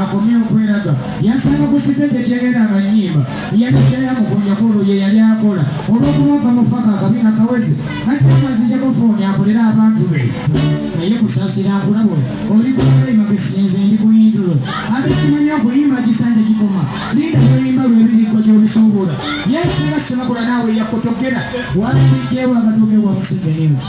akomye okweraga yansanga ku siteegi ekyegenda nga nnyimba yaliseeya mukunya kwolwo ye yali akola olw'okuba nva mu faka akabina kaweze nate amazijako fooni akolera abantu be naye kusasira nkulabo oli kulayima bisinze ndi kuyintulo ate kimanya okuyimba kisanja kikoma linda lyoyimba lwebirikwa gyobisuubula yesu nga sibakola naawe yakotogera walibijeewa amatooke wa museveni nti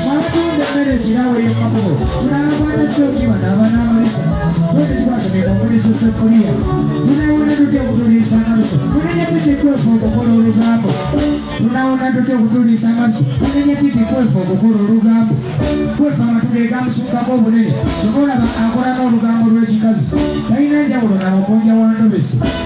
Abatunda emmere ekirawo ey'omukubo tunaakwata kyoki bano abanaamulisa bwete twasabye omulisa seffuliya tunaawona tutya okutuliisa amalusu tunenya tujja kwefu okukola olugambo tunaawona tutya okutuliisa amalusu tunenya tujja kwefu okukola olugambo kwefu amatu ge gamusukkako obunene kyova olaba akola n'olugambo lw'ekikazi talina njawulo na mukunja wa ndobesi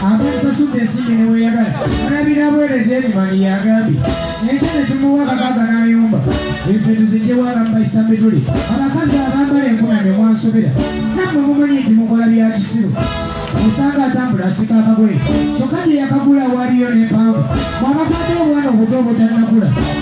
Abamusasudde ensimbi ne weeyagala alabira bwereere Derimani y'agambye enkya ne tumuwa akakaaga n'ayomba efe tuziggyewo abamu bayisa mituli abakazi abambala enkunamyo mwansobera nammwe mumanyi nti mukola bya kisiru osanga atambula asika akagoye kyokka gye yakagula waaliyo n'empanvu mwabakwata obwana obuto obutannakula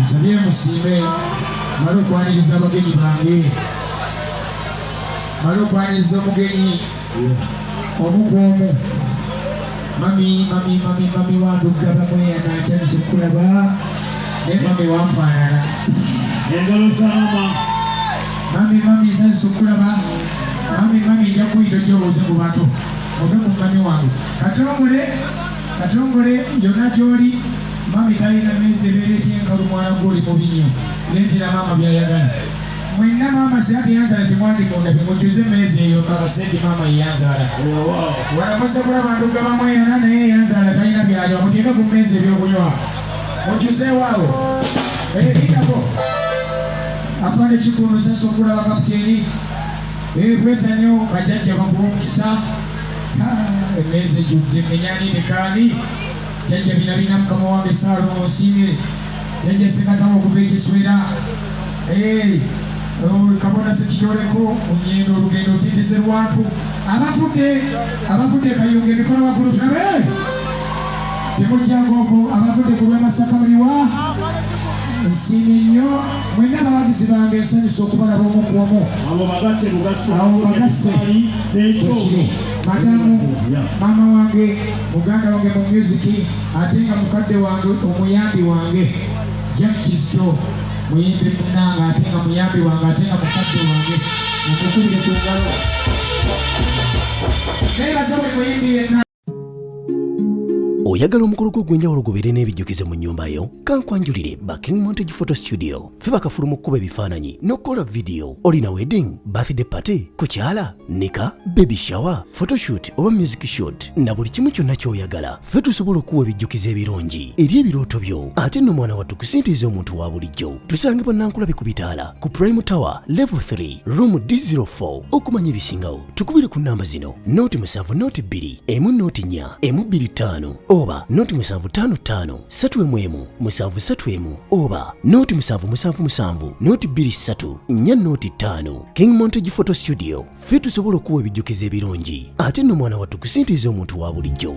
nsabye musiime mala okwaniriza abagenyi bange mala okwaniriza omugenyi omu ku omu mami mami mami mami wandugga bamweyanaakyani kyokulaba naye mami wanfaanana engalo za mama mami mami nsanyusa okulaba mami mami nja kuyita ojobuuze mu bantu ove ku mami wange kati omule Katongole yona gyoli mummy talina mezi ebeera etyenkalu mwana gwe oli mubi nyo letera maama byayagala mwenna maama sina teyanzala temwandigunda bimujuze mezi eyo kakasedi maama yeyanzala walamuze kulaba nduga bamweyana naye eyanzala talina byayo amuteeka ku mezi ebyokunywa mujuzeewaawo ebidako afande kikulu sasa okulaba kapiteeni ebweza nyo bajajja bakuwa omukisa Haa emmeeza ejjudde mmenya ani ne kaani Jajja bina bina mukama wange Ssaalongo Nsiimye Jajja Ssekatawa okuva e Kiswera Eeh oh, Kabona Ssekityoleko mu Nyendo olugendo otindise Luwanvu Abavudde abavudde e Kayunga emikono waggulu tulabe Temujja ng'oku abavudde ku lw'e Masaka muliwa Nsiimye nnyo Mwenna abawagizi bange nsanyuse okubalaba omu ku omu. Abo bagatte bugasse. Abo bagasse. Bwekiri. Madamu, maama wange, muganda wange mu myuziki ate nga mukadde wange omuyambi wange, Jack Kizito, muyimbi munnange ate nga muyambi wange ate nga mukadde wange, mumukubire ku ngalo. Neebaza buli muyimbi yenna. oyagala omukolo gwo ogw'enjawulo gubeere n'ebijjukizo mu nnyumba yo kankwanjulire ba king montage photo studio fe bakafulu mu kkuba ebifaananyi n'okukola vidiyo olina wedding birthday party kukyala nika baby shower photoshoot oba music shoot na buli kimu kyonna ky'oyagala fe tusobola okuwa ebijjukizo ebirungi eri ebirooto byo ate nno mwana wattu kusintiiza omuntu wa bulijjo tusange bannankulabe ku bitaala ku prime tower level 3 room d04 okumanya ebisingawo tukubire ku namba zino noti musanvu noti bbiri emu noti nnya emu bbiri ttaano oba noti musanvu ttaano ttaano ssatu emu emu musanvu ssatu emu oba noti musanvu musanvu musanvu noti bbiri ssatu nnya noti ttaano king montage photo studio ffe tusobola okuwa ebijjukizo ebirungi ate nno mwana wattu kusintiiza omuntu wa bulijjo